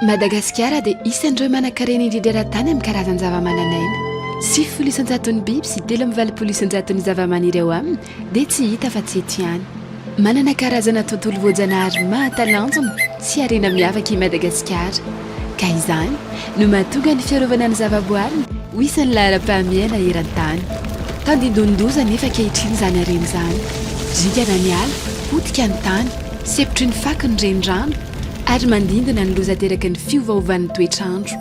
Madagasikara dia isan'ireo manan-karena indrindra eran-tany amin'ny karazan-javamananaina. Sivifolo isan-jaton'ny biby sy telo amby valopolo isan-jaton'ny zavamaniry ao aminy dia tsy hita afa-tsy eto ihany. Manana karazana tontolo voajanahary mahatalanjona sy harena miavaka i Madagasikara, ka izany no mahatonga ny fiarovana ny zavaboariny ho isan'ny laharam-pahamehana eran-tany. Tandindonin-doza anefa ankehitriny izany harena izany, zingana ny ala, potika ny tany, sepotry ny fako ny renirano, ary mandindona ny loza ateraky ny fiovaovan'ny toetr'andro.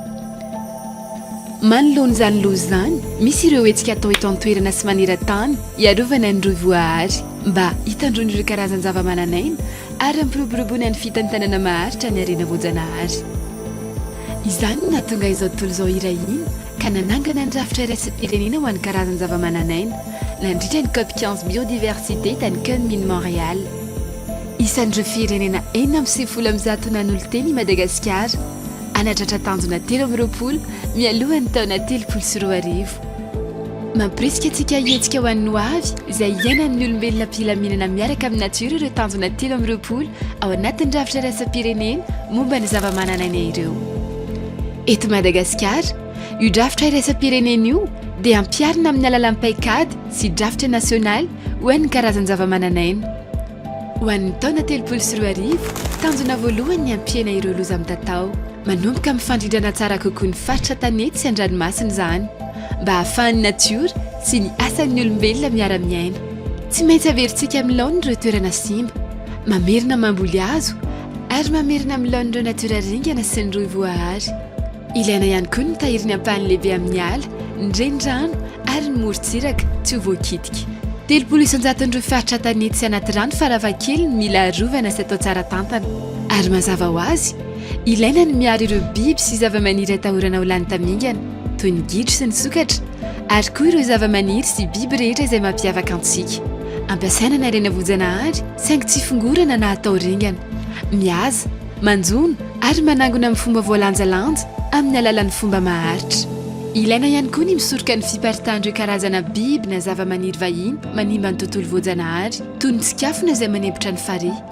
Manoloana izany loza izany, misy ireo hetsika atao eto an-toerana sy maneran-tany hiarovana ny rohy voahary. mba hitandroany ireo karazan-javamananaina ary hampiroboroboany ny fitantanana maharitra ny harena voajanahary. Izany no nahatonga izao tontolo izao iray hina ka nanangana ny rafitra iraisam-pirenena ho an'ny karazan-javamananaina nandritra ny cop quinze biodiversité tany Kunming Montréal. Isan'ireo firenena enina amby sivifolo amin'ny zato nanolotena i Madagasikara hanatratra tanjona telo amby roapolo mialohan'ny taona telopolo sy roa arivo. Mampirisika antsika hihetsika ho an'ny hoavy izay iainan'ny olombelona am-pilaminana miaraka amin'ny natiora ireo tanjona telo amby roapolo ao anatin'ny rafitra iraisam-pirenena momba ny zavamananaina ireo. Eto Madagasikara, io drafitra iraisam-pirenena io dia ampiharina amin'ny alalan'ny paikady sy drafitra nasionaly ho an'ny karazan-javamananaina. Ho an'ny taona telopolo sy roa arivo, tanjona voalohany ny hampihena ireo loza mitatao. Manomboka mifandrindrana tsara kokoa ny faritra tanety sy an-dranomasina izany, mba hahafahan'ny natiora sy ny asan'ny olombelona miara-miaina. Tsy maintsy averintsika amin'ny laoniny ireo toerana simba, mamerina mamboly hazo ary mamerina amin'ny laoniny ireo natiora ringana sy ny rohy voahary. Ilaina ihany koa ny mitahiry ny ampahany lehibe amin'ny ala, ny renirano ary ny morontsiraka tsy ho voakitika. Telopolo isan-jaton'ireo faritra tanety sy anaty rano farafahakeliny mila arovana sy atao tsara tantana. Ary mazava ho azy, Ilaina ny miaro ireo biby sy zavamaniry atahorana ho lany tamingana, toy ny gidro sy ny sokatra, ary koa ireo zavamaniry sy biby rehetra izay mampiavaka antsika. Ampiasaina ny harena voajanahary, saingy tsy fongorana na atao ringana. Mihaza, manjono, ary manangona amin'ny fomba voalanjalanja, amin'ny alalan'ny fomba maharitra. Ilaina ihany koa ny misoroka ny fiparitahan'ireo karazana biby na zavamaniry vahiny manimba ny tontolo voajanahary, toy ny tsikafona izay manempotra ny farihy.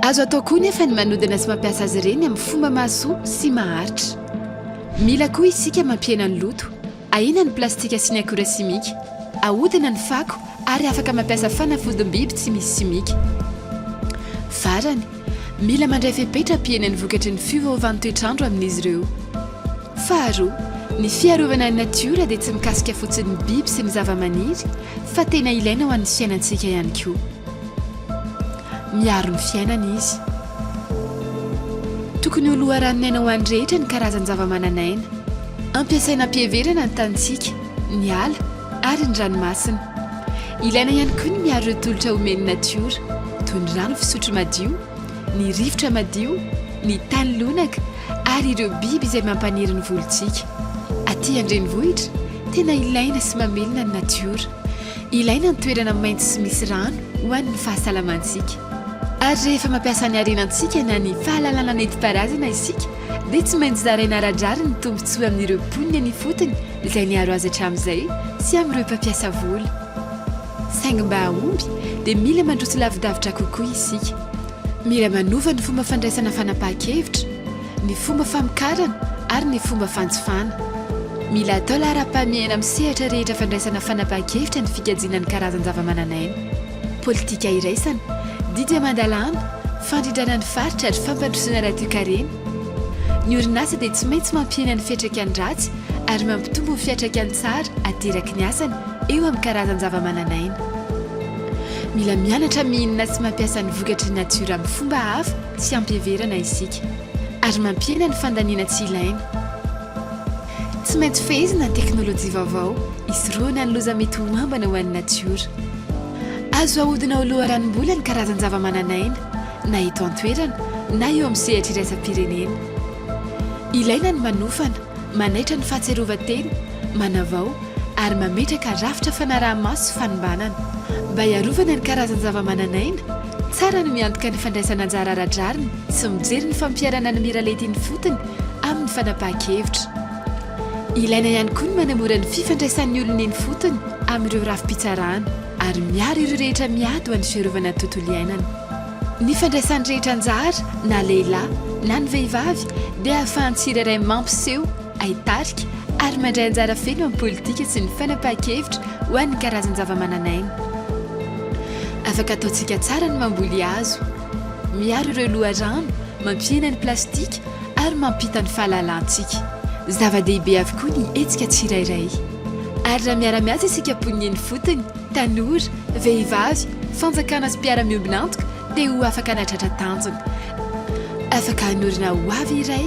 Azo atao koa nefa ny manodina sy mampiasa azy ireny amin'ny fomba mahasoa sy maharitra. Mila koa isika mampihena ny loto, ahena ny plastika sy ny akora simika, ahodina ny fako ary afaka mampiasa fanafodim-biby tsy misy simika. Farany, mila mandray fepetra hampihena ny vokatry ny fiovaovan'ny toetr'andro amin'izy ireo. Faharoa, ny fiarovana ny natiora dia tsy mikasika fotsiny ny biby sy ny zavamaniry fa tena ilaina ho an'ny fiainantsika ihany koa. Miaro ny fiainana izy. Tokony ho loharanon'aina ho an'ny rehetra ny karazan-javamananaina. Ampiasaina am-piheverana ny tanintsika, ny ala ary ny ranomasina. Ilaina ihany koa ny miaro ireo tolotra omen'ny natiora, toy ny rano fisotro madio, ny rivotra madio, ny tany lonaka ary ireo biby izay mampaniry ny volontsika. Aty an-drenivohitra, tena ilaina sy mamelona ny natiora. Ilaina ny toerana maitso sy misy rano ho an'ny fahasalamantsika. Ary rehefa mampiasa ny harenantsika na ny fahalalana nentim-paharazana isika dia tsy maintsy zaraina ara-drariny ny tombontsoa amin'ireo mponina eny ifotony izay niaro azy hatramin'izay sy amin'ireo mpampiasa vola. Saingy mba hahomby dia mila mandroso lavidavitra kokoa isika. Mila manova ny fomba fandraisana fanapahan-kevitra. ny fomba famokarana ary ny fomba fanjifana. Mila atao laharam-pahamehana amin'ny sehatra rehetra fandraisana fanapahan-kevitra ny fikajiana ny karazan-javamananaina. Politika iraisana, didy aman-dalàna, fandrindrana ny faritra ary fampandrosoana ara-toekarena. Ny orinasa dia tsy maintsy mampihena ny fiantraikany ratsy ary mampitombo ny fiantraikany tsara ateraky ny asany eo amin'ny karazan-javamananaina. Mila mianatra mihinana sy mampiasa ny vokatry ny natiora amin'ny fomba hafa. tsy ampiheverana isika ary mampihena ny fandaniana tsy ilaina. Tsy maintsy fehezina ny teknolojia vaovao hisorohana ny loza mety ho ambana ho an'ny natiora. Azo ahodina ho loharanom-bola ny karazan-javamananaina, na eto an-toerana na eo amin'ny sehatra iraisam-pirenena. Ilaina ny manofana, manaitra ny fahatsiarovan-tena, manavao ary mametraka rafitra fanaraha-maso sy fanombanana mba hiarovana ny karazan-javamananaina, Tsara ny miantoka ny fandraisana anjara ara-drariny sy mijery ny fampiharana ny miralenta eny ifotony amin'ny fanapahan-kevitra. Ilaina ihany koa ny manamora ny fifandraisan'ny olona eny ifotony amin'ireo rafi-pitsarana ary miaro ireo rehetra miady ho an'ny fiarovana ny tontolo iainana. Ny fandraisan'ny rehetra anjara, na lehilahy, na ny vehivavy, dia ahafahan'ny tsirairay mampiseho, hay tarika ary mandray anjara feno amin'ny politika sy ny fanapahan-kevitra ho an'ny karazan-javamananaina. Afaka ataontsika tsara ny mamboly hazo, miaro ireo loharano, mampihena ny plastika ary mampita ny fahalalantsika. Zava-dehibe avokoa ny hetsika tsirairay ary raha miara-miasa isika mponin'ny eny fotony, tanora, vehivavy, fanjakana sy mpiara-miombon'antoka dia ho afaka hanatratra tanjona. Afaka hanorina hoavy iray.